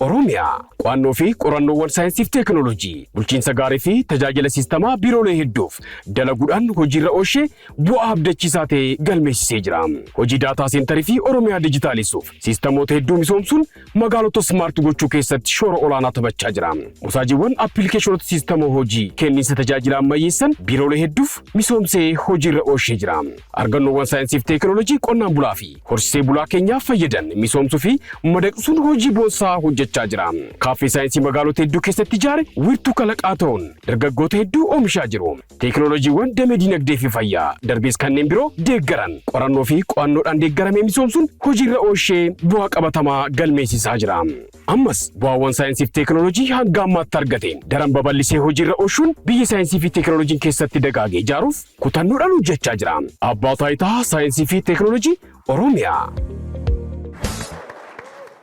Oromiyaa, Qo'annoo fi Qorannoowwan Saayinsii fi Teeknooloojii, Bulchiinsa Gaarii fi Tajaajila Siistamaa Biiroolee hedduuf dalaguudhaan hojiirra oolshee bu'aa abdachiisaa ta'e galmeessisee jira. Hojii Daataa Seentarii fi Oromiyaa Dijitaalessuuf siistamoota hedduu misoomsuun magaalota Smart gochuu keessatti shoora olaanaa taphachaa jira. Mosaajiiwwan Appilikeeshinoota Siistama Hojii kenniinsa tajaajila ammayyeessan biiroolee hedduuf misoomsee hojiirra oolshee jira. Argannoowwan Saayinsii fi Teeknooloojii Qonnaan Bulaa fi Horsisee bulaa keenya fayyadan misoomsuu fi madaqsuun hojii boonsaa hojjechaa jira. Kaaffee saayinsii magaalota hedduu keessatti ijaare wiirtuu kalaqaa ta'uun dargaggoota hedduu oomishaa jiru. Teekinooloojiiwwan damee diinagdee fi fayyaa darbees kanneen biroo deeggaran qorannoo fi qo'annoodhaan deeggaramee misoomsuun hojiirra oolshee bu'aa qabatamaa galmeessisaa jira. Ammas bu'aawwan saayinsii fi teekinooloojii hanga ammaatti argateen daran babal'isee hojiirra oolchuun biyya saayinsii fi teekinooloojiin keessatti dagaage ijaaruuf Kutannoodhaan hojjechaa jira. Abbaa Taayitaa Saayinsii fi Teeknooloojii Oromiyaa.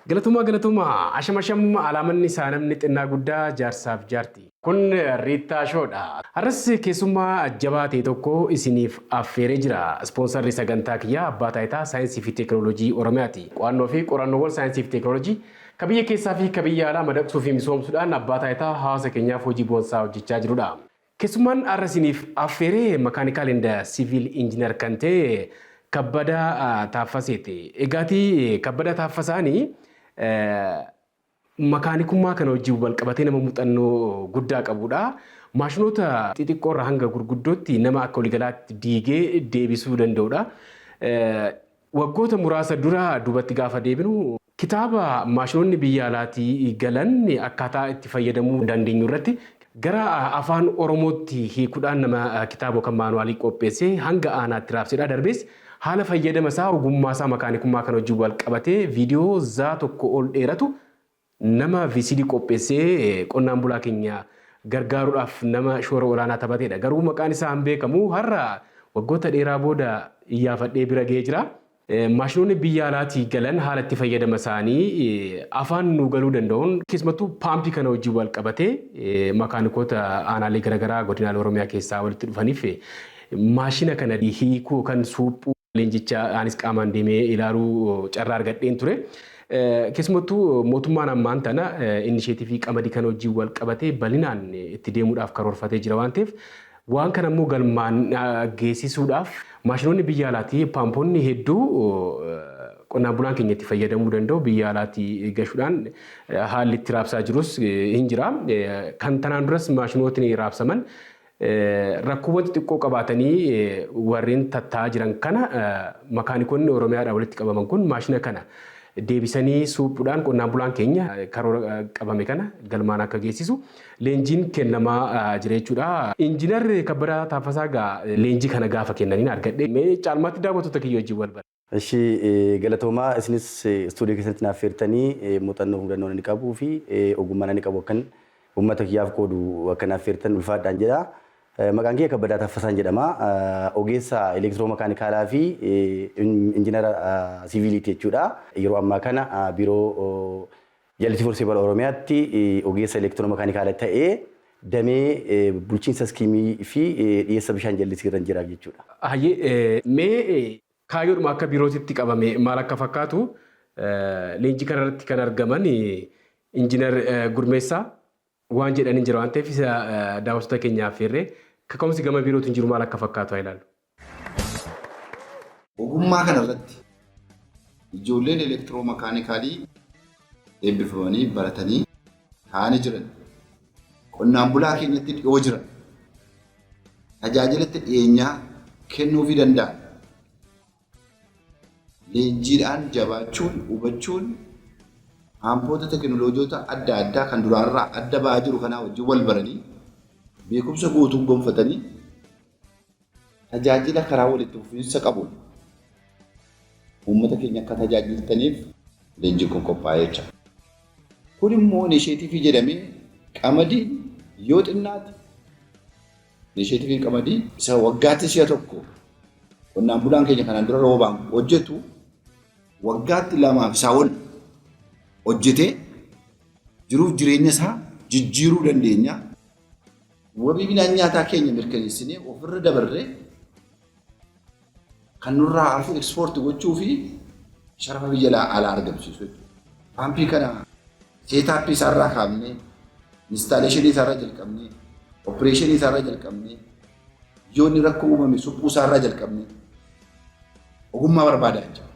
Galatomaa galatomaa asham asham alaamanni isaa namni xinnaa guddaa jaarsaaf jaarti. Kun Riittaa Show dha. Har'as keessummaa jabaa ta'e tokko isiniif affeeree jira. Ispoonsarri sagantaa kiyyaa Abbaa Taayitaa Saayinsii fi Teeknooloojii Oromiyaa ti. Qo'annoo fi qorannoowwan saayinsii fi teeknooloojii ka biyya keessaa fi ka biyya alaa madaqsuu fi misoomsuudhaan Abbaa Taayitaa hawaasa keenyaaf hojii boonsaa hojjechaa jiru dha. Keessummaan har'a isiniif affeere Mechanical and Civil Engineer kan ta'e Kabbadaa Taaffaseeti. Egaati Kabbadaa Taaffasaani makaanikummaa kana wajjin walqabatee nama muuxannoo guddaa qabudha. Maashinoota xixiqqoo irraa hanga gurguddootti nama akka waligalaatti diigee deebisuu danda'udha. Waggoota muraasa dura duubatti gaafa deebinu Kitaaba maashinoonni biyya alaatii galan akkaataa itti fayyadamuu dandeenyu irratti gara Afaan Oromootti hiikudhaan nama kitaaba yookan maanuwaalii qopheessee hanga aanaatti raabsedha. Darbees haala fayyadama isaa, ogummaa isaa, makaanikummaa kana wajjin wal qabatee viidiyoo zaa tokko ol dheeratu nama VCD qopheessee qonnaan bulaa keenya gargaaruudhaaf nama shoora olaanaa taphateedha. Garuu maqaan isaa hin beekamu. Har'a waggoota dheeraa booda iyyaafadhee bira ga'ee jira. Maashinoonni biyya alaatii galan haala itti fayyadama isaanii afaan nuu galuu danda'uun keessumattuu paampii kana wajjin wal qabatee makaanikoota aanaalee garaagaraa godinaalee Oromiyaa keessaa walitti dhufaniif maashina kana hiikuu yookaan suuphuu leenjicha anis qaamaan deemee ilaaluu carraa argadheen ture. Keessumattuu mootummaan ammaan tana inisheetivii qamadii kana wajjin wal qabatee bal'inaan itti deemuudhaaf karoorfatee jira waan ta'eef Waan kana immoo galmaan geessisuudhaaf maashinoonni biyya alaatii paamponni hedduu qonnaan bulaan keenya itti fayyadamuu danda'u biyya alaatii gashuudhaan haalli itti raabsaa jirus hin jira. Kan tanaan duras maashinootni raabsaman rakkoowwan xixiqqoo qabaatanii warreen tattaa'aa jiran kana makaanikoonni Oromiyaadhaa walitti qabaman kun maashina kana deebisanii suuphuudhaan qonnaan bulaan keenya karoora qabame kana galmaan akka geessisu leenjiin kennamaa jira jechuudha. Injinar Kabbadaa Taaffasaa egaa leenjii kana gaafa kennaniin argadhe. Mee caalmaatti daawwattoota kiyya wajjin wal bara. Eshi galatoomaa isinis studio keessanitti naaf affeertanii muuxannoo hudannoon ani qabuu fi ogummaan ani qabu akkan ummata kiyyaaf qoodu akka naaf affeertan ulfaadhaan jedha. Maqaan kiyya Kabbadaa Taffasaan jedhama. Ogeessa elektiroo makaanikaalaa fi injinara siviiliiti jechuudha. Yeroo ammaa kana biiroo Jallisi Forsee bara Oromiyaatti ogeessa elektiroomakaanikaala ta'ee damee bulchiinsa iskiimii fi dhiyeessa bishaan jallisii irran jira jechuudha. Hayyee mee kaayyoodhuma akka biirootitti qabame maal akka fakkaatu leenjii kana irratti kan argaman Injiinar Gurmeessaa waan jedhan hin jira waan ta'eef isa daawwattoota keenya affeerree kaka'umsi gama biirootiin jiru maal akka fakkaatu haa ilaallu. Ogummaa kana irratti ijoolleen elektiroo makaanikaalii eebbifamanii baratanii taa'anii jiran qonnaan bulaa keenyatti dhiyoo jiran tajaajilatti dhiyeenyaa kennuufii danda'an leenjiidhaan jabaachuun hubachuun haampoota teekinooloojoota adda addaa kan duraarraa adda ba'aa jiru kanaa wajjin wal baranii beekumsa guutuu gonfatanii Tajaajila karaa walitti fufiinsa qabuun uummata keenya akka tajaajiltaniif leenjiin kun qophaa'ee jira. Kun immoo inisheetiivii jedhamee qamadiin yoo xinnaate inisheetiiviin qamadii isa waggaatti si'a tokko qonnaan bulaan keenya kanaan dura roobaan hojjetu waggaatti lamaa fi isaa ol hojjetee jiruuf jireenya isaa jijjiiruu dandeenya. Wabii midhaan nyaataa keenya mirkaneessinee ofirra dabarree kan nurraa hafu ekspoorti gochuu fi sharafa biyya alaa alaa argamsiisu jechuudha. Paampii kana seetaappii isaarraa kaafnee, instaaleeshinii isaarraa jalqabnee, opereeshinii isaarraa jalqabnee, yoo inni rakkoo uumame suphuu isaarraa jalqabnee ogummaa barbaada jechuudha.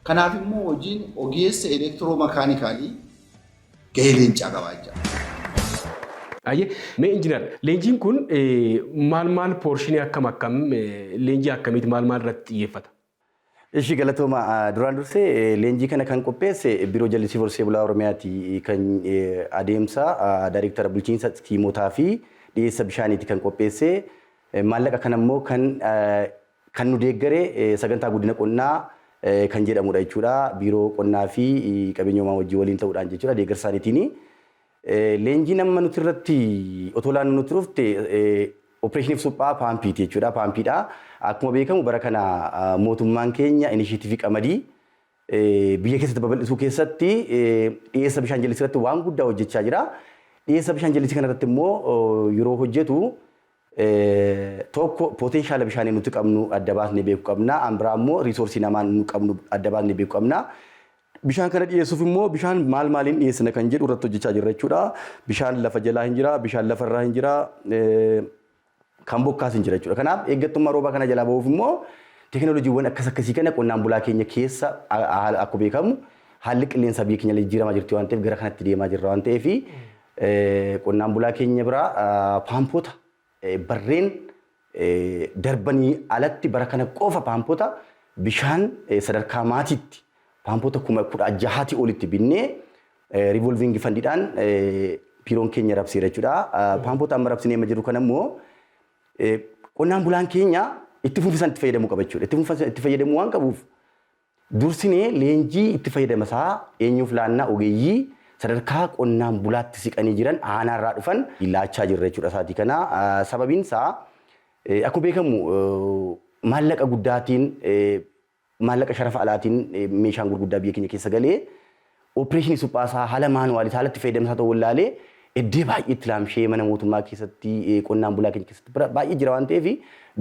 Kanaaf immoo hojiin ogeessa elektiroo makaanikaalii gahee leencaa qaba jechaadha. Hayyee, mee Injinar leenjiin kun maal maal poorshinii akkam akkam leenjii akkamiiti maal maal irratti xiyyeeffata? Ishi galatooma duraan dursee leenjii kana kan qopheesse Biiroo Jallisii Horsee Bulaa Oromiyaati kan adeemsa Daayreektara Bulchiinsa Tiimotaa fi Dhiyeessa Bishaaniiti kan qopheesse maallaqa kana immoo kan Kan nu deeggare Sagantaa Guddina Qonnaa kan jedhamudha jechuudha. Biiroo Qonnaa fi Qabeenya Uumamaa wajjin waliin ta'uudhaan jechuudha. Deeggarsa isaaniitiin leenjiin amma nuti irratti otoo laannu nutti dhufte Opereeshiniif suphaa paampiiti jechuudha. Paampiidha. Akkuma beekamu bara kana mootummaan keenya inisheetiivii qamadii biyya keessatti babal'isuu keessatti dhiyeessa bishaan jallisii irratti waan guddaa hojjechaa jira. Dhiyeessa bishaan jallisii kana irratti immoo yeroo hojjetu tokko potenshaala bishaanii nuti qabnu adda baasnee beeku qabna. An biraa immoo riisoorsii namaa nu qabnu adda baasnee beeku qabna. Bishaan kana dhiyeessuuf immoo bishaan maal maaliin dhiyeessina kan jedhu irratti hojjechaa jirra jechuudha. Bishaan lafa jalaa hin jira, bishaan lafa irraa hin jira, kan bokkaas hin jira jechuudha. Kanaaf eeggattummaa roobaa kana jalaa bahuuf immoo teekinooloojiiwwan akkas akkasii kana qonnaan bulaa keenya keessa akkuma beekamu haalli qilleensaa biyya keenya illee jijjiiramaa jirti waan ta'eef gara kanatti deemaa jirra waan ta'eef Qonnaan bulaa keenya biraa paampoota barreen darbanii alatti bara kana qofa paampoota bishaan sadarkaa maatiitti paampoota kuma kudha jahaati olitti binnee rivolviingi fandidhaan biiroon keenya rabseera jechuudha. Paampoota amma rabsinee amma jiru kana immoo qonnaan bulaan keenya itti fufisan itti fayyadamuu qaba jechuudha. Itti fufisan itti fayyadamuu waan qabuuf Dursinee leenjii itti fayyadama isaa eenyuuf laannaa? Ogeeyyii sadarkaa qonnaan bulaatti siqanii jiran aanaa irraa dhufan laachaa jirra jechuudha isaatii kana. Sababiin isaa akkuma beekamu maallaqa guddaatiin maallaqa sharafa alaatiin meeshaan gurguddaa biyya keenya keessa galee Opireeshinii suphaa isaa haala maanuwaalii haala itti fayyadamni isaa ta'uu wallaalee eddee baay'ee itti laamshee mana mootummaa keessatti qonnaan bulaa keenya keessatti bira baay'ee jira waan ta'eef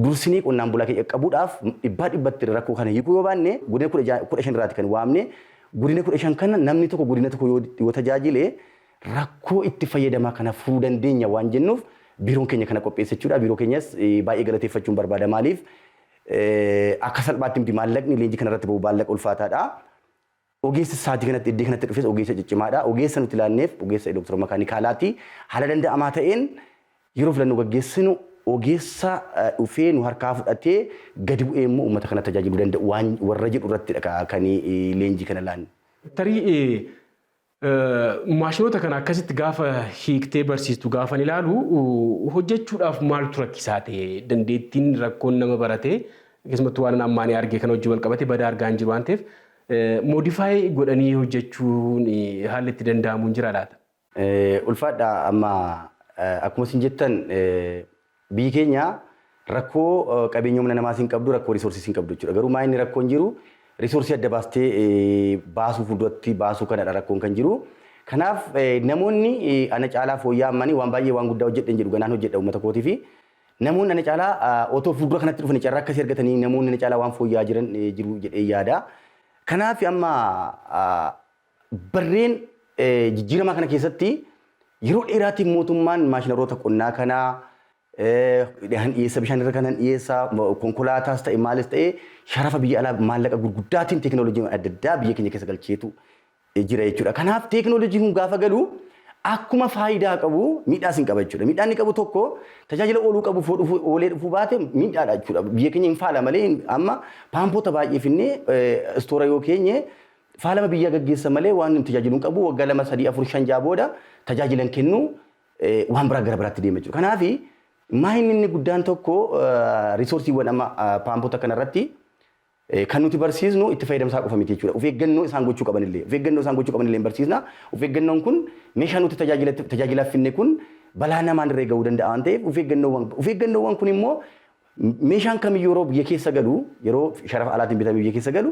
dursinee qonnaan bulaa keenya qaqqabuudhaaf dhibbaa dhibbatti rakkoo kana hiikuu yoo baanne godina kudha ja'a kudha shan irraati kan waamne godina kudha shan kana namni tokko godina tokko yoo yoo tajaajile rakkoo itti fayyadamaa kana furuu dandeenya waan jennuuf biiroon keenya kana qopheesse jechuudha biiroo keenyas baay'ee galateeffachuun barbaada maaliif akka salphaatti miti maallaqni leenjii kanarratti ba'u maallaqa ulfaataadha. Ogeessi saatii kanatti iddee kanatti dhufes ogeessa ciccimaadha. Ogeessa nuti laanneef ogeessa elektiroo makaanikaalaati. Haala danda'amaa ta'een yeroo filannoo gaggeessinu ogeessa dhufee nu harkaa fudhatee gadi bu'ee immoo uummata kana tajaajiluu danda'u waan warra jedhu irrattidha kan leenjii kana laannu. Tarii maashinoota kana akkasitti gaafa hiiktee barsiistu gaafan ilaalu hojjechuudhaaf maaltu rakkisaa ta'e? Dandeettiin rakkoon nama baratee keessumattuu waan ammaanii argee kana hojii wal qabate badaa argaa hin jiru waan ta'eef Modify godhanii hojjechuun haalli itti danda'amu hin jira laata? Ulfaadha amma akkuma isin jettan biyyi keenya rakkoo qabeenya humna namaas hin qabdu rakkoo resources hin qabdu jechuudha. Garuu maa inni rakkoon jiru resource adda baastee baasuu fuulduratti baasuu kanadha rakkoon kan jiru. Kanaaf namoonni ana caalaa fooyya'aa ammanii waan baay'ee waan guddaa hojjedhe hin jedhu ganaan hojjedha uummata kootiifi Namoonni ana caalaa otoo fuuldura kanatti dhufanii carraa akkasii argatanii namoonni ana caalaa waan fooyya'aa jiran jiru jedhee yaada. Kanaaf amma barreen jijjiiramaa kana keessatti yeroo dheeraatiin mootummaan maashinaroota qonnaa kana han dhiyeessa bishaan irra kanan dhiyeessa konkolaataas ta'e maalis ta'e sharafa biyya alaa maallaqa gurguddaatiin teekinooloojiin adda addaa biyya keenya keessa galcheetu jira jechuudha. Kanaaf teeknooloojiin kun gaafa galu akkuma faayidaa qabu miidhaas hin qaba jechuudha. Miidhaan inni qabu tokko tajaajila ooluu qabu foo dhufu oolee dhufuu baate miidhaadha jechuudha. Biyya keenya hin faala malee hin- amma paampoota baay'ee finnee eh, istoora yoo keenye faalama biyyaa gaggeessa malee waan hin tajaajilu hin qabu waggaa lama sadii afur shan ja'a booda tajaajila hin kennu eh, waan biraa gara biraatti deema jechuudha. Kanaaf maahinni inni guddaan tokko eh, riisoorsiiwwan amma eh, paampoota kanarratti Kan nuti barsiisnu itti fayyadama isaa qofa miti jechuudha. Of eeggannoo isaan gochuu qaban illee, of eeggannoo isaan gochuu qaban illee hin barsiisna. Of eeggannoon kun meeshaa nuti tajaajila- tajaajilaaf finne kun balaa namaan irra ga'uu danda'a waan ta'eef of eeggannoowwan, of eeggannoowwan kun immoo meeshaan kamiyyuu yeroo biyya keessa galu, yeroo sharafa alaatiin bitamee biyya keessa galu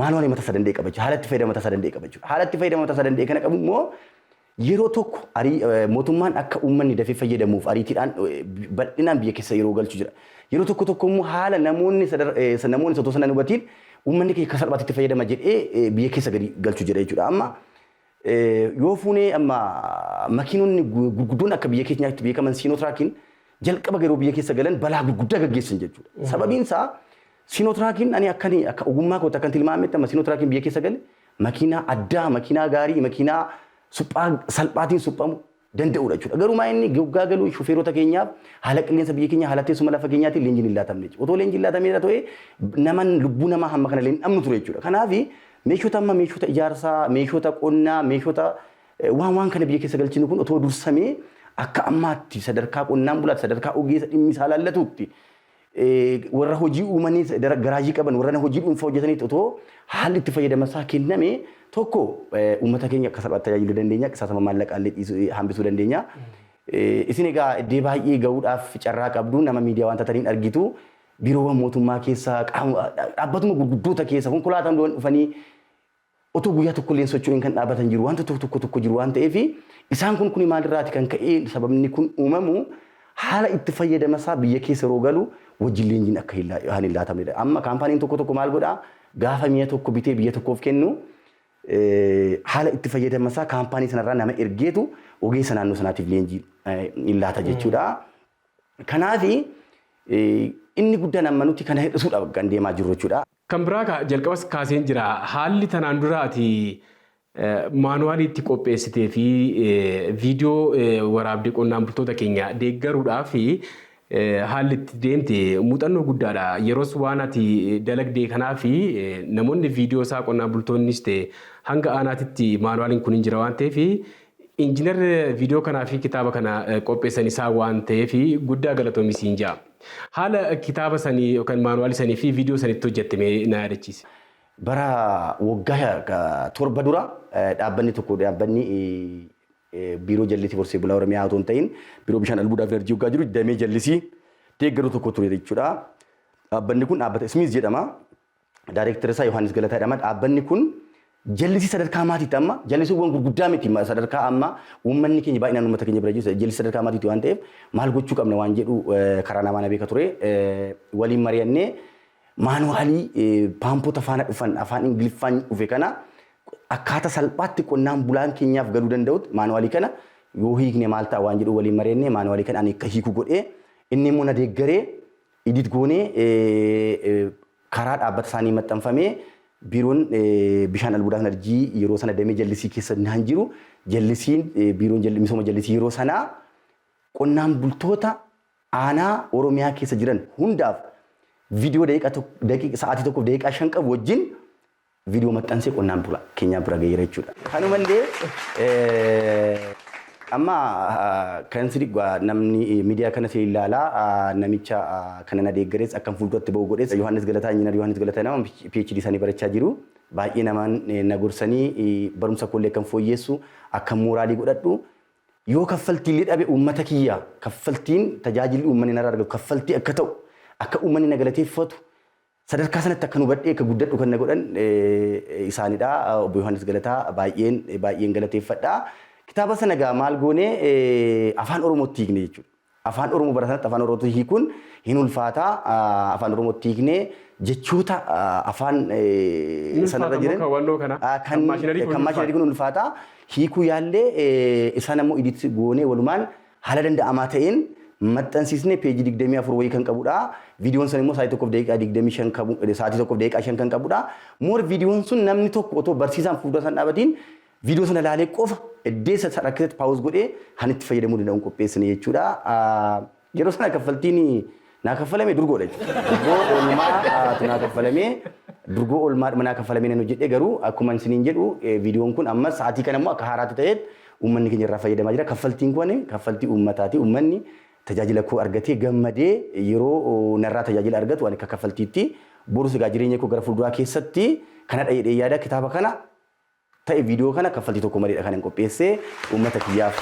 maanuwaalii mataa isaa danda'e qaba jechuudha. Haala itti fayyadama mataa isaa danda'e qaba jechuudha. Haala itti fayyadama mataa isaa danda'e kana qabu immoo Yeroo tokko arii mootummaan akka uummanni dafee fayyadamuuf ariitiidhaan bal'inaan biyya keessa yeroo galchu jira. Yeroo tokko tokko immoo haala namoonni sadar- eh, sa- namoonni osoo sana hin hubatiin uummanni keenya akka salphaatti itti fayyadama jedhee eh, biyya keessa gadi galchu jira jechuudha. Amma eh, yoo fuunee amma makiinonni gu- gurguddoon akka biyya keenyaatti beekaman siinotiraakiin jalqaba yeroo biyya keessa galan balaa gurguddaa gaggeessan jechuudha. Sababiin isaa Sinootiraakiin ani akkani akka ogummaa kootti akkan tilmaametti amma sinootiraakiin biyya keessa gale makiinaa addaa makiinaa gaarii makiinaa suphaa salphaatiin suphamu danda'udha jechuudha. Garuu maa inni goggaa galu shufeerota keenyaaf haala qilleensa biyya keenya haala teessuma lafa keenyaatiin leenjiin hin laatamne jechuudha. Otoo leenjiin laatameera ta'e naman lubbuu namaa hamma kana leen dhabnu ture jechuudha. Kanaaf meeshota amma meeshota ijaarsaa meeshota qonnaa meeshota waan waan kana biyya keessa galchinu kun otoo dursamee akka ammaatti sadarkaa qonnaan bulaatti sadarkaa ogeessa dhimmi isaa laallatuutti warra hojii uumanii garaajii qaban warra hojii dhuunfaa hojjetaniitti otoo haalli itti fayyadama isaa kenname tokko uummata keenya akka salphaatti tajaajiluu dandeenya qisaasama maallaqaa illee hambisuu dandeenya. Isin egaa iddoo baay'ee gahuudhaaf carraa qabdu nama miidiyaa waan taataniin argitu biiroowwan mootummaa keessa dhaabbatuma gurguddoota keessa konkolaataan dhufanii Otoo guyyaa tokkollee hin socho'iin kan dhaabatan jiru. Wanta tokko tokko tokko jiru waan ta'eef isaan kun kuni maalirraati kan ka'ee sababni kun uumamu haala itti fayyadama isaa biyya keessa yeroo galu wajjin leenjiin akka hin laa- hin laatamnedha. Amma kaampaaniin tokko tokko maal godhaa gaafa mi'a tokko bitee biyya tokkoof kennu eh, haala itti fayyadama isaa kaampaanii sanarraa nama ergeetu ogeessa naannoo sanaatiif leenjii eh, hin laata jechuudha. Kanaafi eh, inni guddaan amma nuti kana hir'isuudha kan deemaa jirru jechuudha. Kan biraa ka jalqabas kaaseen jira. Haalli tanaan dura ati maanuwaalii itti qopheessitee fi viidiyoo waraabde qonnaan bultoota keenya deeggaruudhaaf haalli itti deemte muuxannoo guddaadha. Yeroos waan ati dalagdee kanaaf namoonni viidiyoo isaa qonnaan bultoonnis ta'e hanga aanaatitti maanuwaaliin kun hin jira waan ta'eef Injinar viidiyoo kanaa fi kitaaba kana qopheessan isaa waan ta'eef guddaa galatoomi siin ja'a. Haala kitaaba sanii yookaan maanuwaalii sanii fi viidiyoo sanitti hojjette mee na yaadachiisi. Bara waggaa torba dura dhaabbanni tokko dhaabbanni biiroo jallisii horsee bulaa Oromiyaa otoo hin ta'in biiroo bishaan albuudaa fi enerjii waggaa jiru damee jallisii deeggaru tokko ture jechuudha. Dhaabbanni kun dhaabbata Smith jedhama. Daareektarri isaa Yohaannis Galataa jedhama. Dhaabbanni kun jallisii sadarkaa maatiitti amma jallisiiwwan gurguddaa miti ma- sadarkaa amma uummanni keenya baay'inaan uummata keenya bira jiru jallisii sadarkaa maatiitti waan ta'eef maal gochuu qabna waan jedhu eh, karaa namaa na beeka ture eh, waliin mari'annee maanuwaalii eh, paampota faana dhufan afaan ingiliffaan dhufe kana akkaataa salphaatti qonnaan bulaan keenyaaf galuu danda'utti maanuwaalii kana yoo hiikne maal ta'a waan jedhu waliin mari'annee maanuwaalii kana ani akka hiiku godhee inni immoo na deeggaree Edit goonee karaa dhaabbata isaanii maxxanfamee biiroon bishaan albuudaa Narjii yeroo sana damee jallisii keessa naan jiru jallisiin biiroon jalli- misooma jallisii yeroo sanaa qonnaan bultoota aanaa Oromiyaa keessa jiran hundaaf viidiyoo daqiiqa tok- daqiiqa- sa'aatii tokkoof daqiiqaa shan qabu wajjin Viidiyoo maxxansee qonnaan bulaa keenyaa bira gaheera jechuudha. Kanuma illee amma kan sirrii namni miidiyaa kana sirrii ilaalaa namicha kana na deeggarees akkan fuulduratti ba'u godhees Yohaannis Galataa Injiinar Yohaannis Galataa nama PhD isaanii barachaa jiru. Baay'ee namaan na gorsanii barumsa koollee akkan fooyyeessu akkan mooraalii godhadhu yoo kaffaltii illee dhabe uummata kiyyaa kaffaltiin tajaajilli uummanni narraa argatu kaffaltii akka ta'u akka uummanni na galateeffatu Sadarkaa sanatti akkan hubadhee akka guddadhu kan na godhan isaanidha. Obbo Yohaannis Galataa baay'een baay'een galateeffadha. Kitaaba sana egaa maal goone afaan Oromootti hiikne jechuudha. Afaan Oromoo bara sanatti afaan Oromootti hiikuun hin ulfaata. Afaan Oromootti hiikne jechoota afaan sanarra jiran kan maashinarii kun ulfaata. Hiikuu yaallee isaan ammoo iditti goonee walumaan Haala danda'amaa ta'een maxxansiisnee page 24 wayii kan qabudha. Viidiyoon san immoo sa'aatii 1:25 qabu, sa'aatii 1:05 kan qabudha. Moor viidiyoon sun namni tokko otoo barsiisaan fuuldura isaan dhaabatiin viidiyoo sana ilaalee qofa eddeessa isa rakkisetti paawuz godhee kan itti fayyadamuu danda'uun qopheessine jechuudha. Yeroo sana kaffaltiin Naa kaffalamee durgoo dha jechuudha. Durgoo oolmaa tu naa kaffalamee durgoo oolmaa dhuma naa kaffalamee nan hojjedhe garuu akkuma isiniin jedhu viidiyoon kun amma sa'aatii kana immoo akka haaraatti ta'eet uummanni keenya irraa fayyadamaa jira. Kaffaltiin kun kaffaltii uummataati. Uummanni tajaajila koo argatee gammadee yeroo narraa tajaajila argatu ani akka kaffaltiitti borus egaa jireenya koo gara fuulduraa keessatti kanadha jedhee yaada kitaaba kana ta'e viidiyoo kana kaffaltii tokko maleedha kanan qopheessee uummata kiyyaaf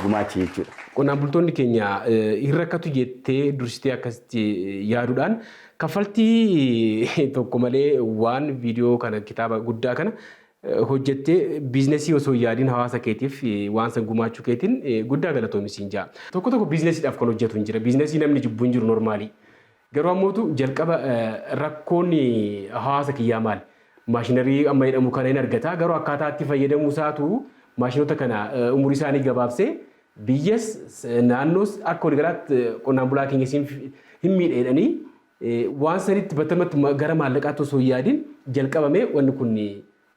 gumaache jechuudha. Qonnaan bultoonni keenya hin rakkatu jettee dursitee akkasitti yaaduudhaan kaffaltii tokko malee waan viidiyoo kana kitaaba guddaa kana hojjettee biiznasii osoo hin yaadiin hawaasa keetiif waan san gumaachuu keetiin guddaa galatoomi siin ja'a. Tokko tokko biiznasiidhaaf kan hojjetu hin jira. Biiznasii namni jibbu hin jiru normaalii. Garuu ammootu jalqaba rakkoon hawaasa kiyyaa maali? Maashinarii amma jedhamu kana hin argata. Garuu akkaataa itti fayyadamuu isaatu maashinoota kana umurii isaanii gabaabsee biyyas naannoos akka waligalaatti qonnaan bulaa keenya siin hin miidha jedhanii waan sanitti battalumatti ma- gara maallaqaatti osoo hin yaadin jalqabamee wanni kun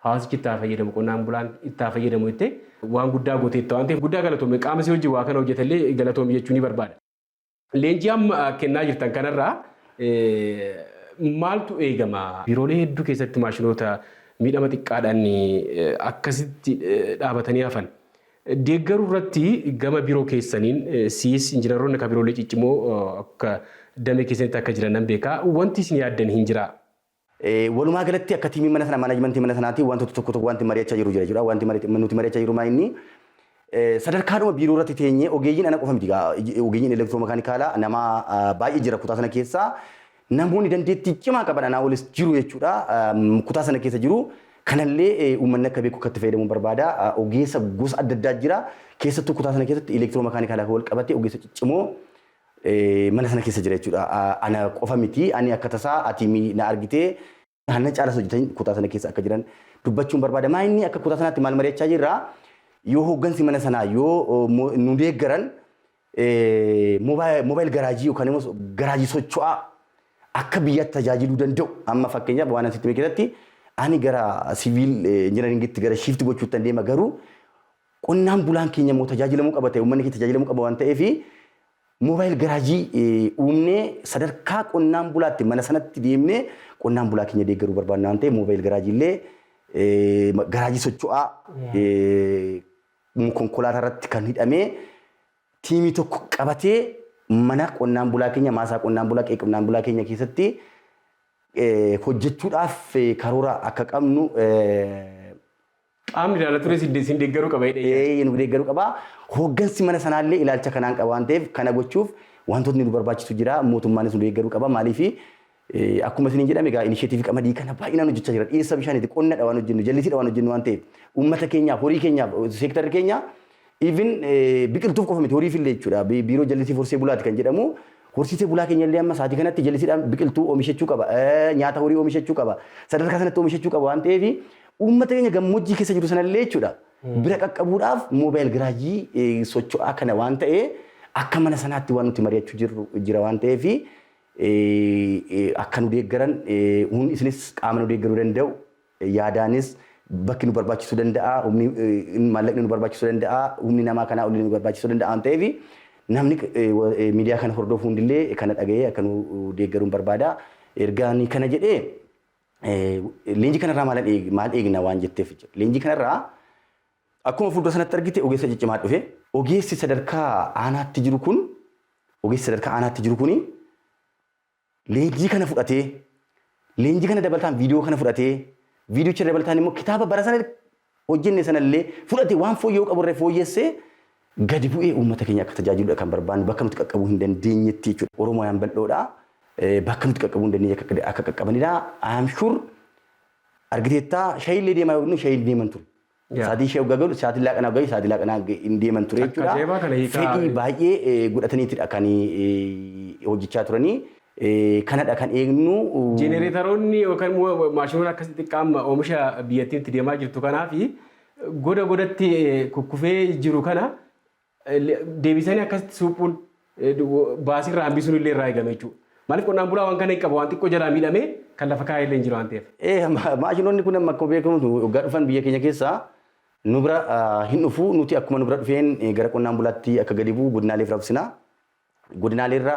hawaasichi itti haa fayyadamu qonnaan bulaan itti haa fayyadamu jettee waan guddaa gooteetta waan ta'eef guddaa galatoomi qaama si hojii waa kana hojjetallee galatoomi jechuu ni barbaada. Leenjii amma kennaa jirtan kanarraa maaltu eegama? Biiroolee hedduu keessatti maashinoota miidhama xiqqaadhaan akkasitti dhaabatanii hafan deeggaruu irratti gama biiroo keessaniin siis injinaroonni akka biiroolee ciccimoo akka damee keessanitti akka jiran nan beeka. Wanti isin yaaddan hin jiraa? Walumaa galatti akka tiimii mana sana maanajimentii mana sanaatiin wantoota tokko tokko wanti mari'achaa jiru jira jechuudha. Wanti nuti mari'achaa jiru maayinni sadarkaadhuma biiroo irratti teenyee ogeeyyiin ana qofa miti ogeeyyiin elektiroomekaanikaalaa nama baay'ee jira kutaa sana keessa namoonni dandeettii cimaa qaban anaa olis jiru jechuudha. Kutaa sana keessa jiru kanallee uummanni akka beeku akka itti fayyadamu barbaada. Ogeessa gosa adda addaa jira. Keessattuu kutaa sana keessatti elektiroomekaanikaalaa wal qabatee ogeessa ciccimoo mana sana keessa jira jechuudha. Ana qofa miti ani akka tasaa ati mi na argitee hanna caalas hojjetan kutaa sana keessa akka jiran dubbachuun barbaada. Maa inni akka kutaa sanaatti maal mari'achaa jirra yoo hooggansi mana sanaa yoo nu deeggaran moobaayil garaajii yookaan immoo garaajii socho'aa akka biyyaatti tajaajiluu danda'u amma fakkeenyaaf waan asitti mee keessatti ani gara siviil injinaringitti gara shiifti gochuuttan deema garuu Qonnaan bulaan keenya immoo tajaajilamuu qaba ta'e uummanni keenya tajaajilamuu qaba waan ta'eef moobaayil garaajii uumnee sadarkaa qonnaan bulaatti mana sanatti deemnee qonnaan bulaa keenya deeggaruu barbaadna waan ta'eef moobaayil garaajii illee garaajii socho'aa konkolaataa irratti kan hidhamee tiimii tokko qabatee mana qonnaan bulaa keenya maasaa qonnaan bulaa qe'ee qonnaan bulaa keenya keessatti hojjechuudhaaf karoora akka qabnu Qaamni ilaala tures isin deeggaruu qaba jedhee yaada. Eeyyee nu deeggaruu qaba. Hooggansi mana sanaallee ilaalcha kanaan qaba waan ta'eef kana gochuuf wantootni nu barbaachisu jira. Mootummaanis nu deeggaruu qaba. Maaliif akkuma isiniin jedhame egaa inisheetiivii qamadii kana baay'inaan hojjechaa jira. Dhiyeessa bishaaniiti qonnadha waan hojjennu jallisiidha waan hojjennu waan ta'eef uummata keenyaaf horii keenyaaf seektarri keenya Even biqiltuuf qofa miti horiif illee jechuudha. Biiroo jallisii horsee bulaati kan jedhamu. Horsiisee bulaa keenya illee amma sa'aatii kanatti jallisiidhaan biqiltuu oomishachuu qaba. Nyaata horii oomishachuu qaba. Sadarkaa sanatti oomishachuu qaba waan ta'eef uummata keenya gammoojjii keessa jiru sana illee jechuudha. Bira qaqqabuudhaaf moobaayil giraajii socho'aa kana waan ta'ee akka mana sanaatti waan nuti mari'achuu jirru jira waan ta'eef akka nu deeggaran isinis qaama nu deeggaruu danda'u Yaadaanis bakki nu barbaachisu danda'a, humni maallaqni nu barbaachisu danda'a, humni namaa kanaa olillee nu barbaachisu danda'a waan ta'eef namni miidiyaa kana hordofu hundillee kana dhaga'ee akka nu deeggaruun barbaada. Erga ani kana jedhee leenjii kanarraa maalan eeg- maal eegna waan jetteef jechuudha. Leenjii kanarraa akkuma fuuldura sanatti argite ogeessa ciccimaa dhufe. Ogeessi sadarkaa aanaatti jiru kun ogeessi sadarkaa aanaatti jiru kuni Leenjii kana fudhatee, leenjii kana dabalataan viidiyoo kana fudhatee, viidiyocha dabalataan immoo kitaaba bara sana hojjenne sana illee fudhate waan fooyya'uu qabu irra fooyyessee gadi bu'ee uummata keenya akka tajaajiludha kan barbaannu bakka nuti qaqqabuu hin dandeenyetti jechuudha. Oromooyaan bal'oodha. Bakka nuti qaqqabuu hin dandeenye akka qaqqabanidha. I am sure argiteettaa shayillee deemaa yoo jennu shayiin deeman ture. Yeah. Saatii ishee hoggaa gahu saatii laaqanaa hoggaa saatii laaqanaa hin deeman ture Takka jechuudha. seebaa kana hiikaa- Fedhii baay'ee eh, godhataniitidha kan eh, hojjechaa turanii. Eh, Kanadha kan eegnu. Jenereetaroonni yookaan immoo maashinoota akkas xixiqqaa amma oomisha biyyattiin itti deemaa jirtu kanaa fi goda godatti eh, kukkufee jiru kana Deebisanii akkasitti suuphuun baasirraa hambisuun illee irraa eegame jechuudha. Maaliif qonnaan bulaa waan kana hin qabu waan xiqqoo jalaa miidhamee kan lafa kaa'e illee hin jiru waan ta'eef. Maashinoonni kun amma akkuma beekamu waggaa dhufan biyya keenya keessa nu bira hin dhufu nuti akkuma nu bira dhufeen gara qonnaan bulaatti akka gadi bu'u godinaalee fi rabsina. Godinaalee irra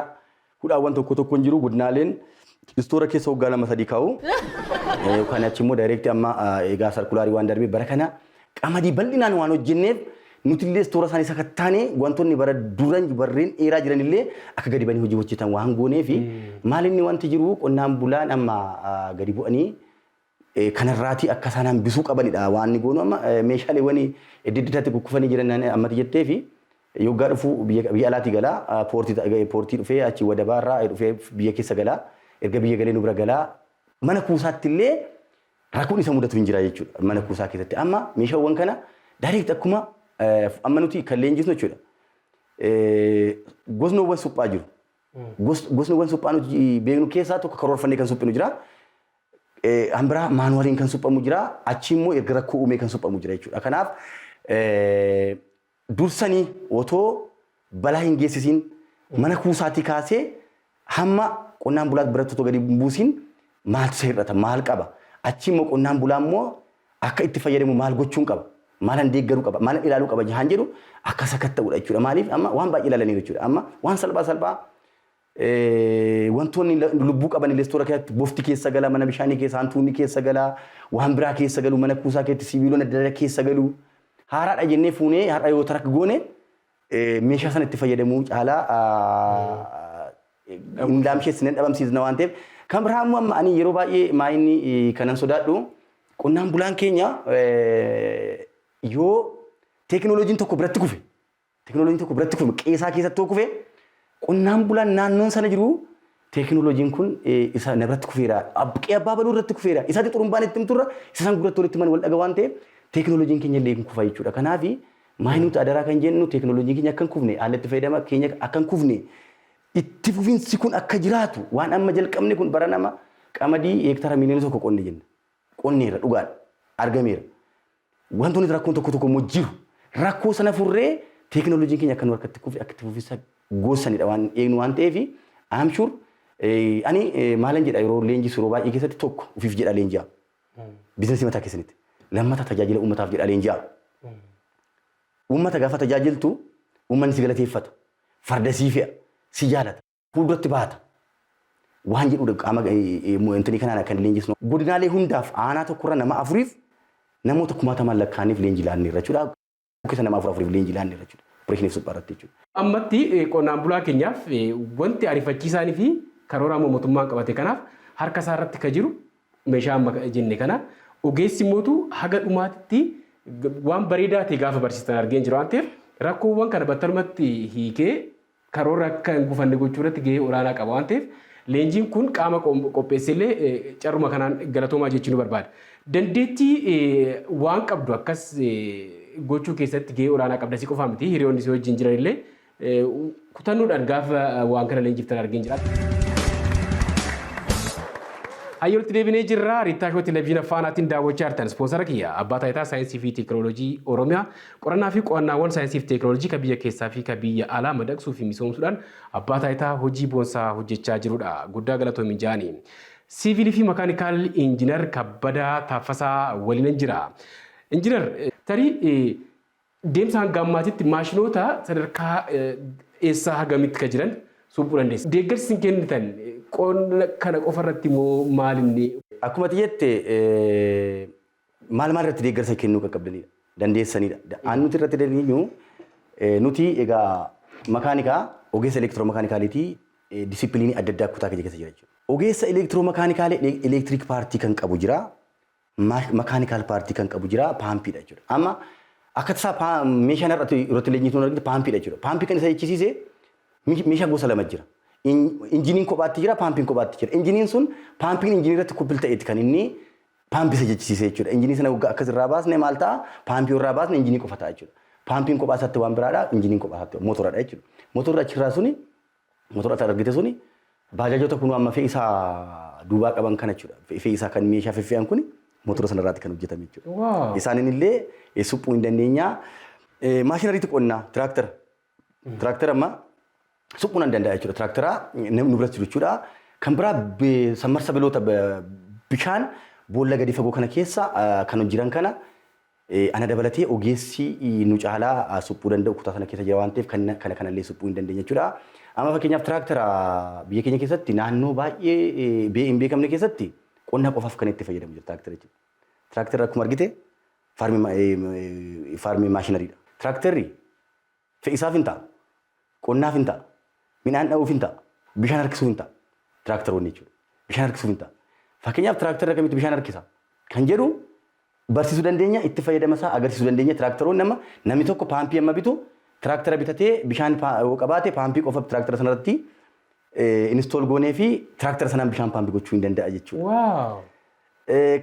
hudhaawwan tokko tokko hin jiru. Godinaaleen istoora keessa waggaa lama sadii kaa'u. Yookaan achi immoo daayireektii amma egaa sarkulaarii waan darbee bara kana qamadii bal'inaan waan hojjenneef nuti illee istoora isaanii sakattaanee wantoonni bara duran barreen dheeraa jiran illee akka gadi banii hojii hojjetan waan goonee fi maal inni wanti jiru qonnaan bulaan amma gadi bu'anii kana irraatii akka isaan hambisuu qabanidha waan inni goonu amma meeshaaleewwan edda eddaatti kukkufanii jiran ammati jettee fi yoggaa dhufu biyya alaatii galaa poortii dhufee achi wadabaa irraa dhufee biyya keessa galaa erga biyya galee nu bira galaa mana kuusaatti illee rakkoon isa mudatu hin jira jechuudha mana kuusaa keessatti amma meeshaawwan kana direct akkuma amma nuti kan leenjisnu jechuudha gosnoowwan suphaa jiru gosnoowwan suphaa nuti beeknu keessaa tokko karoorfannee kan suphinu jira Kan biraa maanuwaliin kan suphamu jira. Achi immoo erga rakkoo uumee kan suphamu jira jechuudha. Kanaaf dursanii otoo balaa hin geessisiin mana kuusaatii kaasee hamma qonnaan bulaa biratti otoo gadi hin buusiin maaltu isa hir'ata maal qaba achi immoo qonnaan bulaa immoo akka itti fayyadamu maal gochuun qaba maalan deeggaruu qaba maalan ilaaluu qaba jahaan jedhu akka sakatta'udha jechuudha maaliif amma waan baay'ee ilaalaniiru jechuudha amma waan salphaa salphaa Wantoonni lubbuu qaban illee istoora keessatti bofti keessa gala, mana bishaanii keessa hantuunni keessa gala, waan biraa keessa galu, mana kuusaa keetti siibiilonni adda addaa keessa galu. Haaraadha jennee fuunee har'a yoo tarak goone meeshaa sana itti fayyadamuu caalaa hin laamsheessine hin dhabamsiisna waan ta'eef. Kan biraa immoo amma ani yeroo baay'ee maayinni kanan sodaadhu qonnaan bulaan keenya yoo teekinooloojiin tokko biratti kufe Teekinooloojiin tokko biratti kufee qe'ee isaa keessatti yoo kufe qonnaan bulaan naannoon sana jiru teekinooloojiin kun isa na biratti kufeera qe'ee abbaa baluu irratti kufeera isaatti xurumbaan itti himturra isa san gurratti walitti himan wal dhaga waan ta'eef teekinooloojiin keenya illee hin kufa jechuudha. Kanaaf maal nuti adaraa kan jennu teekinooloojiin keenya akka hin kufne haala itti fayyadama keenya akka hin kufne itti fufinsi kun akka jiraatu waan amma jalqabne kun bara nama qamadii heektaara miiliyoona tokko qonne jenna. Qonneera dhugaadha argameera. Wantoonni rakkoon tokko tokko immoo jiru. Rakkoo sana furree teekinooloojiin keenya akka nu harkatti kufe akka itti fufinsa goosaniidha waan eegnu waan ta'eef I'm sure eh, ani eh, maalan jedha yeroo leenjisu yeroo baay'ee keessatti tokko ofiif jedha leenji'a. Biizinasii mataa keessanitti. Lammata tajaajila uummataaf jedha leenji'a. Uummata gaafa tajaajiltu uummanni si galateeffata. Farda sii fe'a. Si jaalata. fuuldratti baata waan jedhuudha qaama intini kanaan akka hin leenjisnu. Godinaalee hundaaf aanaa tokkorra nama afuriif namoota kumaatamaan lakkaa'aniif leenjii laannee irra jechuudha. Keessa nama afur afuriif leenjii laannee irra jechuudha. Opereeshiniif suphaa irratti jechuudha. Ammatti qonnaan bulaa keenyaaf wanti ariifachiisaanii fi karoora amma mootummaan qabate kanaaf harka isaa irratti kan jiru meeshaa amma jenne kana ogeessi mootu haga dhumaatitti waan bareedaa ta'e gaafa barsiistan argeen jira waan ta'eef rakkoowwan kana battalumatti hiikee karoorri akka hin gufanne gochuu irratti gahee olaanaa qaba waan ta'eef leenjiin kun qaama qopheessellee carruma kanaan galatoomaa jechuu ni barbaada. Dandeettii waan qabdu akkas gochuu keessatti gahee olaanaa qabda si qofaa miti hiriyoonni si wajjin jiran illee kutannoodhaan gaafa waan kana leenjiftan argeen jira. Hayyoolti deebinee jirra. Riittaa Shoo Televiziina Faanaatiin daawwachaa jirtan. Ispoonsara kiyya Abbaa Taayitaa Saayinsii fi Teekinooloojii Oromiyaa Qorannaa fi qo'annaawwan saayinsii fi teeknooloojii ka biyya keessaa fi ka biyya alaa madaqsuu fi misoomsuudhaan abbaa taayitaa hojii boonsaa hojjechaa jiru dha. Guddaa galatoomi Jaani. Siiviilii fi Makaanikaal Injinar Kabbadaa Taaffasaa waliinan jira. Injinar, tarii deemsa hanga ammaatitti maashinoota sadarkaa eessaa hagamitti ka jiran suuphuu dandeessa? Deeggarsi isin kennitan qonna kana qofa irratti moo maal inni? Akkuma ati jette maal maal irratti deeggarsa kennuu qaqqabdanidha. Dandeessanidha. Da- Aan nuti irratti dandeenyu eh, nuti egaa makaanikaa ogeessa elektiroomakaanikaaliitii eh, disipiliinii adda addaa kutaa keenya keessa jira jechuudha. Ogeessa elektiroomakaanikaala elektiriik paartii kan qabu jira. ma- makaanikaal paartii kan qabu jira paampiidha jechuudha. Amma akka tasaa paa- meeshaan irratti irratti leenjiitu hin argite paampiidha jechuudha. Paampii kan isa jechisiise mi- meeshaa gosa lama jira. In- Injiniin kophaatti jira, paampiin kophaatti jira. Injiniin sun paampiin injinii irratti kuppil ta'eeti kan inni Paampi isa jechisiise jechuudha. Injinii sana waggaa akkas irraa baasne maal ta'a? Paampii irraa baasne injinii qofa ta'a jechuudha. Paampiin kophaa isaatti waan biraadha, injiniin kophaa isaatti mootoradha jechuudha. Mootorri achirraa suni, mootora ati argite suni baajaajota kun amma fe'isaa duubaa qaban kana jechuudha. Fe'isaa kan meeshaa feffe'an kuni mootora sana irraatti kan hojjetame jechuudha. Isaanin illee supphuu hin dandeenyaa. Maashinariitti qonnaa, tiraaktara. Tiraaktera amma suphuu nan danda'a jechuudha. Tiraakteraa nu biratti jiru jechuudha. Kan biraa be- sammarsa biloota be- bishaan boolla gadi fagoo kana keessa ah, kan jiran kana eh, ana dabalatee ogeessi eh, nu caalaa ah, suphuu danda'u kutaa sana keessa jira waan ta'eef kan kana kanallee suphuu hin dandeenye jechuudha. Amma fakkeenyaaf tiraaktera biyya keenya keessatti naannoo baay'ee eh, bee- hin beekamne keessatti qonna qofaaf kan itti fayyadamu jira tiraaktera jechuudha. Tiraakterri akkuma argite Faarmii maashinarii dha. Tiraakterri fe'isaaf hin ta'a, qonnaaf hin ta'a, midhaan dha'uuf hin ta'a, bishaan harkisuuf hin ta'a. Tiraakteroonni jechuudha. Bishaan harkisuuf hin ta'a. Fakkeenyaaf tiraakterri akkamitti bishaan harkisa kan jedhu barsiisuu dandeenya, itti fayyadama isaa agarsiisuu dandeenya. Tiraakteroonni amma namni tokko paampii amma bitu tiraaktera bitatee bishaan yoo qabaate paampii qofa tiraaktera sanarratti inistool goonee fi tiraaktera sanaan bishaan paampii gochuu hin danda'a jechuudha. Waaw!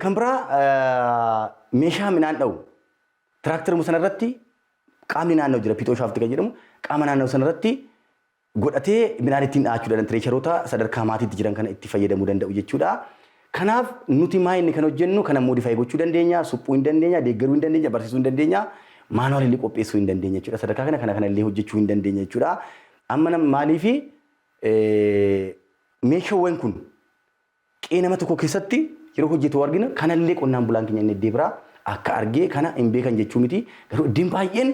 Kan biraa meeshaa midhaan dha'u tiraaktaruma sana irratti qaamni naannoo jira piixoo shaafti kan jedhamu qaama naannoo sana irratti godhatee midhaan ittiin dha'achuu danda'an tireesharoota sadarkaa maatiitti jiran kana itti fayyadamuu danda'u jechuudha. Kanaaf nuti maa inni kan hojjennu kana moodifaayi gochuu dandeenya, suphuu hin dandeenya, deeggaruu hin dandeenya, barsiisuu hin dandeenya, maanuwaal illee qopheessuu hin dandeenya jechuudha. Sadarkaa kana kana kana illee hojjechuu hin dandeenya jechuudha. Amma maaliifi meeshaawwan kun Qe'ee nama tokkoo keessatti yeroo hojjetu argina. Kanallee qonnaan bulaan keenya inni iddee biraa akka argee kana hin beekan jechuu miti. Garuu iddeen baay'een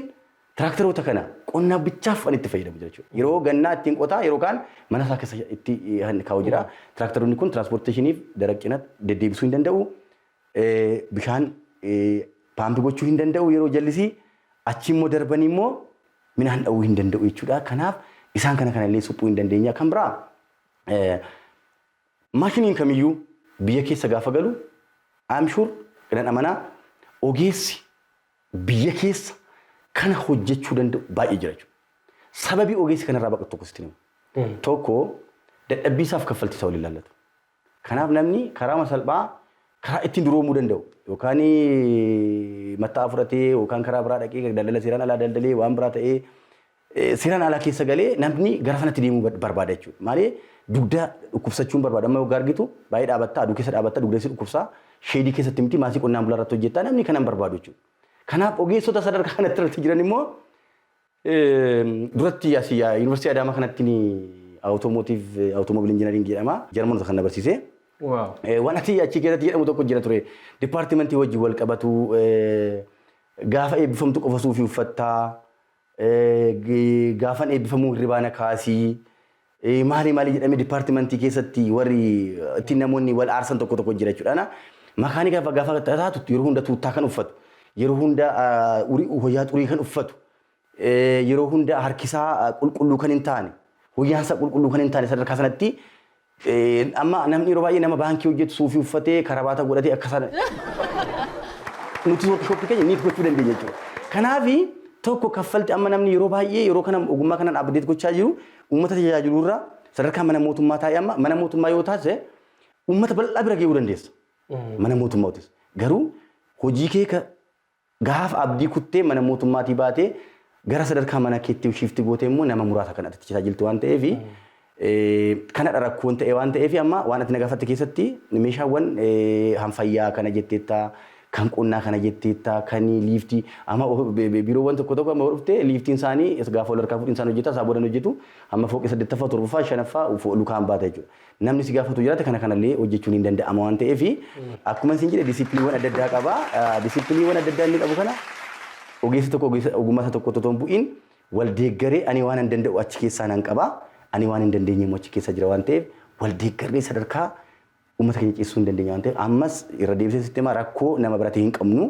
tiraakteroota kana qonnaaf bichaaf kan itti fayyadamu jira jechuudha. Yeroo gannaa ittiin qotaa yeroo kaan mana isaa keessa itti kan kaa'u jira. Tiraakteroonni kun tiraanspoorteeshiniif daraq cina deddeebisuu hin danda'u. Bishaan paampi gochuu hin danda'u yeroo jallisii. Achi immoo darbanii immoo midhaan dha'uu hin danda'u jechuudha. Kanaaf isaan kana kanallee suphuu hin dandeenya. Kan biraa Maashiniin kamiyyuu biyya keessa gaafa galu I am sure nan amana ogeessi biyya keessa kana hojjechuu danda'u baay'ee jira jechuudha. Sababii ogeessi kanarraa baqatu tokko sitti himu. Tokko dadhabbii isaaf kaffaltii isaa waliin ilaallatu. Kanaaf namni karaama salphaa karaa ittiin duroomuu danda'u yookaan matta'aa fudhatee yookaan karaa biraa dhaqee daldala seeraan alaa daldalee waan biraa ta'ee Seeraan alaa keessa galee namni gara sanatti deemuu bad- barbaada jechuudha. Maalee dugda dhukkubsachuun barbaada. Amma yoggaa argitu baay'ee dhaabattaa, aduu keessa dhaabattaa, dugda si dhukkubsaa, sheedii keessatti miti maasii qonnaan bulaa irratti hojjettaa namni kana hin barbaadu jechuudha. Kanaaf ogeessota sadarkaa kanatti irratti jiran immoo Eem, duratti asii yaa- yuunivarsiitii Adaamaa kanatti ni awutoomotiiv awutoomobil injinariingii jedhama. Jarmanoota kan na barsiise. Waaw. Eh, Waan ati achi keessatti jedhamu tokko jira ture. Dipaartimentii wajjin wal qabatu eh, gaafa eebbifamtu qofa suufii uffattaa Gaafan eebbifamuu hirribaa na kaasi. Maali maali jedhamee dipaartimantii keessatti warri ittiin namoonni wal aarsan tokko tokko jira jechuudha. Makaanika gaafa taatu yeroo hunda tuuttaa kan uffatu, yeroo hunda hoyaa xurii kan uffatu, yeroo hunda harkisaa qulqulluu kan hin taane, hoyaansa qulqulluu kan hin taane sadarkaa sanatti Amma namni yeroo baay'ee nama baankii hojjetu suufii uffatee karabaata godhatee akka sana nuti workshop keenya niit gochuu dandeenya jechuudha. Kanaaf tokko kaffalti amma namni yeroo baay'ee yeroo kana ogummaa kanaan update gochaa jiru uummata tajaajilu irraa sadarkaa mana mootummaa taa'ee amma mana mootummaa yoo taasise uummata bal'aa bira ga'uu dandeessa. Mana mootummaatis garuu hojii kee ka Gaafa abdii kuttee mana mootummaatii baatee gara sadarkaa mana keetti shiifti gootee immoo nama muraasa kan ati tajaajiltu waan ta'eef kanadha rakkoon ta'e waan ta'eef amma waan ati na gaafatte keessatti meeshaawwan kan fayyaa kana jetteetta kan qonnaa kana jetteetta kan liiftii amma biiroowwan tokko tokko amma dhufte liiftiin isaanii gaafa wal harkaa fuudhin isaan hojjeta isaa boodan hojjetu amma fooqii saddeettaffaa torbaffaa shanaffaa lukaan baata jechuudha. Namni si gaafatu jiraate kana kanallee hojjechuun hin danda'ama waan ta'eef akkuma isin jedhe disipiliiwwan adda addaa qaba. Disipiliiwwan adda addaa inni qabu kana ogeessi tokko ogeessa ogummaa isaa tokkotti otoo hin bu'iin wal deeggaree ani waan hin danda'u achi keessaa nan qaba. Ani waan hin dandeenye immoo achi keessa jira waan ta'eef wal deeggarree sadarkaa uummata keenya ceessisuu hin dandeenye waan ta'eef ammas irra deebisee sitti himaa rakkoo nama biratti hin qabnu.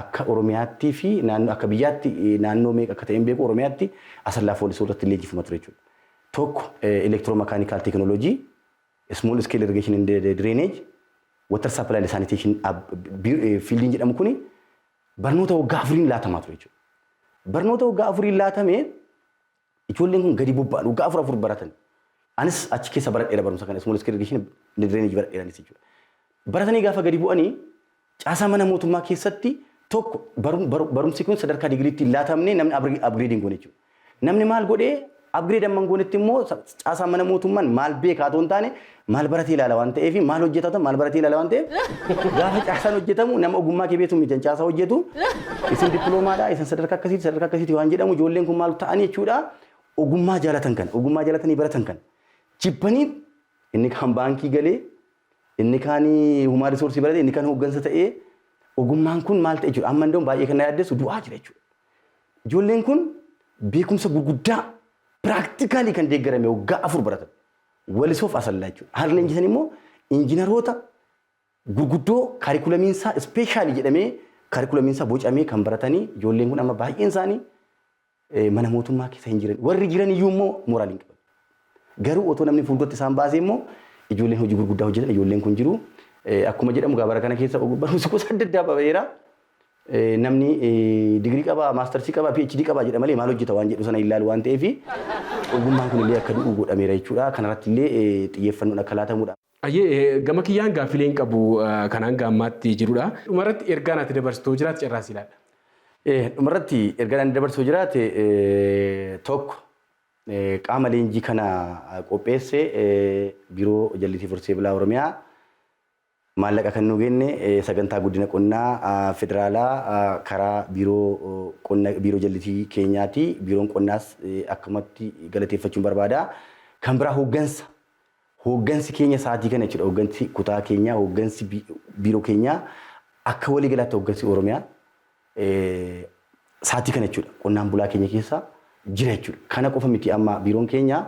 Akka Oromiyaattii fi naannoo akka biyyaatti naannoo meeqa akka ta'e hin beeku Oromiyaatti Asallaa fi Walisoo irratti leenjifama ture jechuudha. Tokko Electro Mechanical Technology, Small Scale Irrigation and Drainage, Water Supply and Sanitation fiildiin jedhamu kuni barnoota waggaa afuriin laatamaa ture jechuudha. Barnoota waggaa afuriin laatamee Ijoolleen kun gadi bobba'an waggaa afur afur baratan. Anis achi keessa baradheera barumsa kana small scale irrigation drainage baradheera anis jechuudha. Baratanii gaafa gadi bu'anii caasaa mana mootummaa keessatti tokko barum- baru- barumsi kun sadarkaa digiriitti hin laatamne namni upgrade upgrade hin goone jechuudha. Namni maal godhee upgrade amma hin goonetti immoo sa- caasaa mana mootummaan maal beekaa otoo hin taane Maal baratee ilaala waan ta'eef maal hojjetata maal baratee ilaala waan ta'eef gaafa caasaan hojjetamu nama ogummaa kee beektu mijan caasaa hojjetu isin dippiloomaadha isin sadarkaa akkasiiti sadarkaa akkasiiti waan jedhamu ijoolleen kun maal ta'anii jechuudha ogummaa jaalatan kan ogummaa jaalatanii baratan kan jibbanii inni kaan baankii galee inni kaan humaa risoorsii barate inni kaan hooggansa ta'ee ogummaan kun maal ta'e jechuudha amma iddoo baay'ee kan na yaaddessu du'aa jira jechuudha. Ijoolleen kun beekumsa gurguddaa piraaktikaalii kan deeggarame waggaa afur baratan. Walisoo fi Asallaa jechuudha. Harri leenjisan immoo injinaroota gurguddoo kaarikulamiin isaa ispeeshaalii jedhamee kaarikulamiin isaa bocamee kan baratanii ijoolleen kun amma baay'een isaanii eh, mana mootummaa keessa hin jiran. Warri jiran iyyuu immoo mooraal hin qaban. Garuu otoo namni fuulduratti isaan baasee immoo ijoolleen hojii gurguddaa hojjetan ijoolleen kun jiru. Eh, Akkuma jedhamu gaabara kana keessa og- barumsi gosa adda addaa baheera. Namni digirii qaba, maastarsii qaba, PhD qaba jedha malee maal hojjeta waan jedhu sana hin ilaalu waan ta'eef ogummaan kun illee akka du'u godhameera jechuudha. Kanarratti illee xiyyeeffannoon akka laatamudha. Hayyee gama kiyyaan gaaffilee hin qabu kan hanga ammaatti jirudha. Dhumarratti ergaan ati dabarsitu yoo jiraate carraa si laadha. Dhumarratti ergaan ani dabarsu yoo jiraate tokko qaama leenjii kana qopheesse Biiroo Jallisii Fursee Bilaa Oromiyaa Maallaqa kan nuu kenne Sagantaa Guddina Qonnaa Federaalaa karaa Biiroo Qonna Biiroo Jallisii keenyaati. Biiroon Qonnaas akkumatti galateeffachuun barbaada. Kan biraa hooggansa. Hooggansi keenya sa'aatii kana jechuudha. Hooggansi kutaa keenyaa, hooggansi Biiroo keenyaa akka walii galaatti hooggansi Oromiyaa saatii kana jechuudha qonnaan bulaa keenya keessa jira jechuudha. Kana qofa miti amma biiroon keenya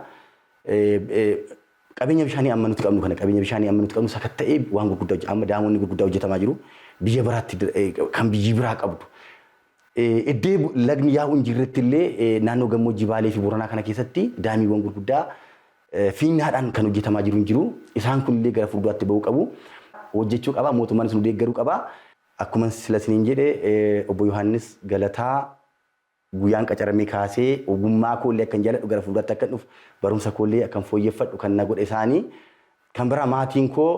qabeenya bishaanii amma nuti qabnu kana qabeenya bishaanii amma nuti qabnu sakatta'ee waan gurguddaa hojjeta. Amma daamoonni gurguddaa hojjetamaa jiru. Biyya biraatti kan biyyi biraa qabdu. Iddee lagni yaa'u hin jirretti illee naannoo gammoojjii Baalee fi Booranaa kana keessatti daamiiwwan gurguddaa fiinyaadhaan kan hojjetamaa jiru hin jiru. Isaan kun illee gara fuulduraatti ba'uu qabu. Hojjechuu qaba. Mootummaanis nu deeggaruu qaba. Akkuman sila isiniin jedhe Obbo Yohaannis Galataa guyyaan qacaramee kaasee ogummaa koo illee akkan jaaladhu gara fuulduraatti akkan dhufu barumsa koo illee akkan fooyyeffadhu kan na godhe isaani. Kan biraa maatiin koo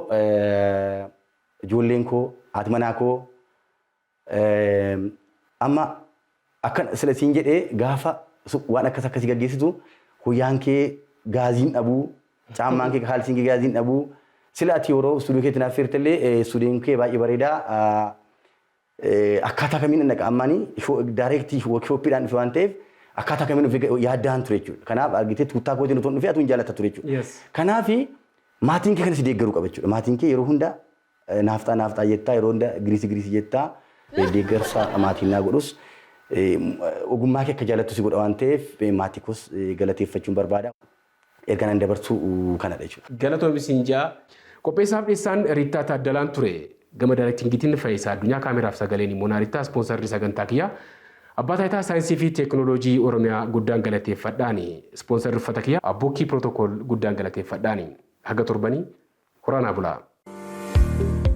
ijoolleen koo haati manaa koo amma Akkan sila siin jedhe gaafa waan akkas akkasii gaggeessitu huyyaan kee gaazii hin dhabu, caammaan kee kaalsiin kee gaazii hin dhabu. Sila ati yeroo istuudiyoo keetti naaf feerte illee istuudiyoon kee baay'ee bareeda. Akkaataa kamiin dhaqa ammaani daayireektii woorkishooppiidhaan dhufe waan ta'eef akkaataa kamiin dhufe yaaddaan ture jechuudha. Kanaaf argitee tuuttaa kootiin otoo hin dhufe atuu hin jaallata ture jechuudha. Kanaaf maatiin kee kan si deeggaru qaba jechuudha. Maatiin kee yeroo hunda Naafxaa naafxaa jettaa yeroo hunda giriisi giriisi jettaa deeggarsa maatiin naa godhus ogummaa kee akka jaalattu si godha waan ta'eef maatii koos galateeffachuun barbaada. Ergaan ani dabarsu kanadha jechuudha. Galatoomi siin ja'a. Qopheessaaf dhiyessaan Riittaa Taaddalaan ture. Gama Daayreektingiitiin Fayisaa Addunyaa, Kaameraaf Sagaleen immoo Naarittaa, Ispoonsarri sagantaa kiyyaa Abbaa Taayitaa Saayinsii fi Teeknooloojii Oromiyaa guddaan galateeffadhaani. Ispoonsarri uffata kiyyaa Abbuukkii Protocol guddaan galateeffadhaani. Haga torbanii Horaa naa bulaa.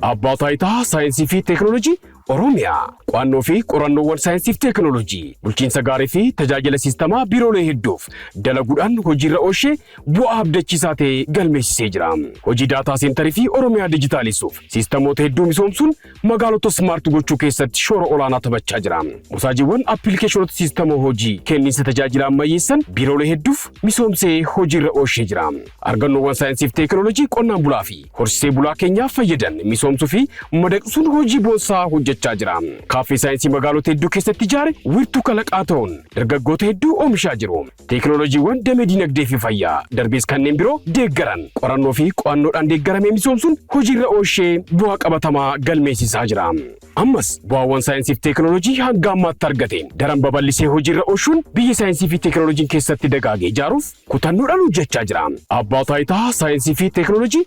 Abbaa Taayitaa Saayinsii fi Teeknooloojii Oromiyaa. Qo'annoo fi qorannoowwan saayinsii fi teeknooloojii, bulchiinsa gaarii fi tajaajila siistamaa biiroolee hedduuf dalaguudhaan hojiirra oolshee bu'aa abdachiisaa ta'e galmeessisee jira. Hojii daataa seentarii fi Oromiyaa dijitaaleessuuf siistamoota hedduu misoomsuun magaalota smart gochuu keessatti shoora olaanaa taphachaa jira. Mosaajiiwwan appilikeeshinoota siistama hojii kenniinsa tajaajila ammayyeessan biiroolee hedduuf misoomsee hojiirra oolchee jira. Argannoowwan saayinsiif teekinooloojii qonnaan bulaa fi horsiisee bulaa keenyaa fayyadan misoomsuu fi madaqsuun hojii boonsaa hojjechaa jira. Kaaffee saayinsii magaalota hedduu keessatti ijaare wiirtuu kalaqaa ta'uun dargaggoota hedduu oomishaa jiru. Teeknooloojiiwwan damee diinagdee fi fayyaa, darbees kanneen biroo deeggaran qorannoo fi qo'annoodhaan deeggaramee misoomsuun hojiirra oolshee bu'aa qabatamaa galmeessisaa jira. Ammas bu'aawwan saayinsii fi teeknooloojii hanga ammaatti argate daran babal'isee hojiirra oolshuun biyya saayinsii fi teeknooloojiin keessatti dagaage ijaaruuf kutannoodhaan hojjechaa jira. Abbaa Taayitaa Saayinsii fi Teeknooloojii